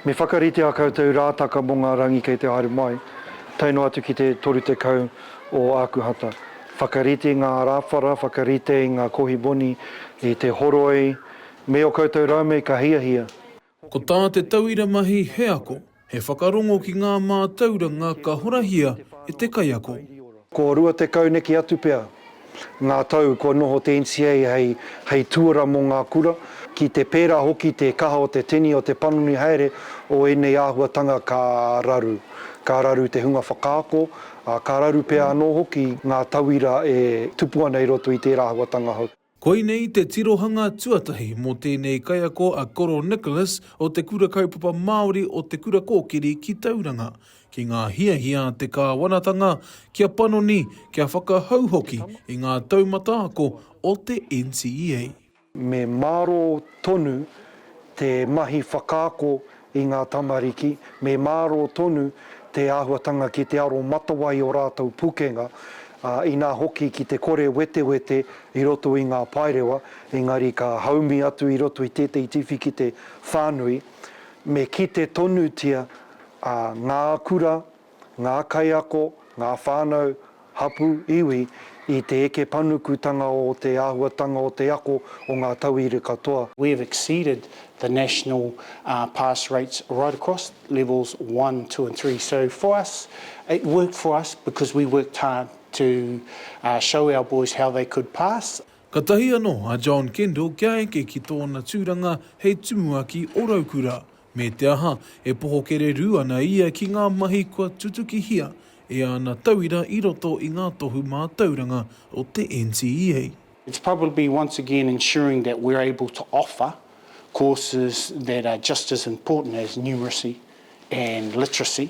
Me whakaritea koutou rātaka mō ngā rangi kei te haere mai, tae noa atu ki te 30 o Ākuhata. Whakarite i ngā arāwhara, whakarite i ngā kohi moni, i te horoi, me ō koutou raume ka hiahia. Ko tā te tauira mahi he ako, he whakarongo ki ngā mātauranga ka horahia e te kaiako. Ko rua tekau neke atu pea ngā tau kua noho te NCA hei, hei tuara mō ngā kura, ki te pērā hoki te kaha o te tini o te panoni haere o ēnei āhuatanga ka raru, ka raru te hunga whakaako, ā, ka raru pea anō hoki ngā tauira e tupu ana i roto i tērā āhuatanga hou. Koinei te tirohanga tuatahi mō tēnei kaiako a Koro Nicholas o Te Kura Kaupapa Māori o Te Kura Kōkiri ki Tauranga, ki ngā hiahia a te kāwanatanga kia panoni, kia whakahou hoki i ngā taumata ako o te NCEA. Me mārō tonu te mahi whakaako i ngā tamariki, me mārō tonu te āhuatanga ki te aromatawai o rātou pukenga, ā, inā hoki ki te kore wetewete i roto i ngā paerewa, engari ka haumi atu i roto i tētehi tiwhikete whānui, me kite tonutia, ā, ngā kura, ngā kaiako, ngā whānau, hapū, iwi i te eke panukutanga o te āhuatanga o te ako o ngā tauira katoa. We have exceeded the national pass rates right across levels one, two and three. So for us, it worked for us because we worked hard to show our boys how they could pass. Katahi anō a John Kendall kia eke ki tōna tūranga hei tumuaki o Raukura, Me te aha, e poho kererū ana ia ki ngā mahi kua tutukihia e āna tauira i roto i ngā tohu mātauranga o te NCEA. It's probably to be once again ensuring that we're able to offer courses that are just as important as numeracy and literacy.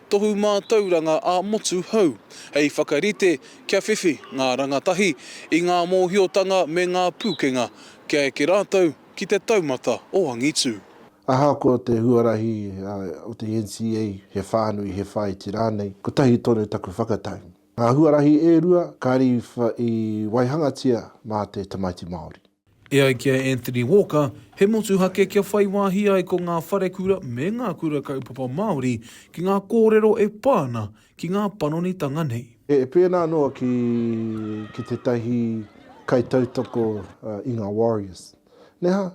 Tohu Mātauranga ā-Motu Hou, hei whakarite kia whiwhi ngā rangatahi i ngā mōhiotanga me ngā pūkenga kia eke rātou ki te taumata o angitū. Ahakoa te huarahi o te NCA, he whānui, he whāiti rānei, kotahi tonu taku whakatau. Ngā huarahi e rua kāre i waihangatia mā te tamaiti Māori. E ai ki a Anthony Walker, he motuhake kia whai wāhi ai ko ngā wharekura me ngā kura kaupapa Māori ki ngā kōrero e pā ana ki ngā panonitanga nei. E pēnā noa ki ki tētahi kaitautoko i ngā Warriors, neha?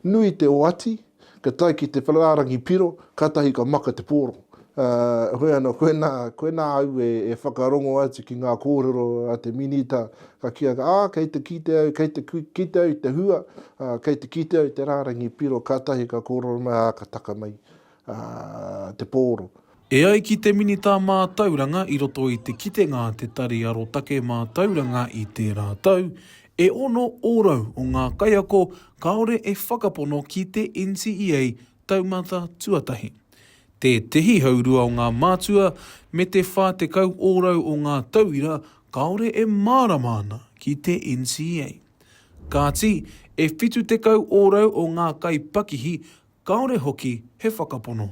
Nui te oati Ka tae ki te whakaarangi piro, kātahi ka maka te pōro. Hoi anō, koinā, koinā au e, e whakarongo atu ki ngā kōrero a te Minita, ka kīa, ā, kei te kite au, kei te kite au i te hua, kei te kite au i te rārangi piro, kātahi ka kōrero mai, ā, ka taka mai te pōro. E ai ki te Minita Mātauranga i roto i te kitenga a Te Tari Arotake Mātauranga i tērā tau, e ono ōrau o ngā kaiako kāore e whakapono ki te NCEA taumata tuatahi. Tētehi haurua o ngā mātua me te 40 ōrau o ngā tauira kāore e mārama ana ki te NCEA. Kāti, e 70 ōrau o ngā kaipakihi kāore hoki he whakapono.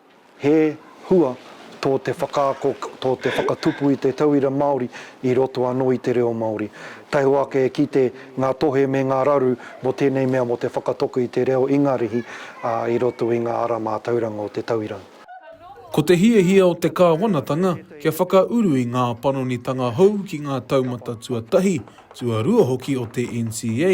He hua tō te whakaako, tō te whakatupu i te tauira Māori i roto anō i te reo Māori. Taihoa ake e kite ngā tohe me ngā raru mō tēnei mea mō te whakatoko i te reo Ingarihi i roto i ngā ara mātauranga o te tauira. Ko te hiahia o te Kāwanatanga kia whakauru i ngā panonitanga hou ki ngā taumata tuatahi, tuarua hoki o te NCA,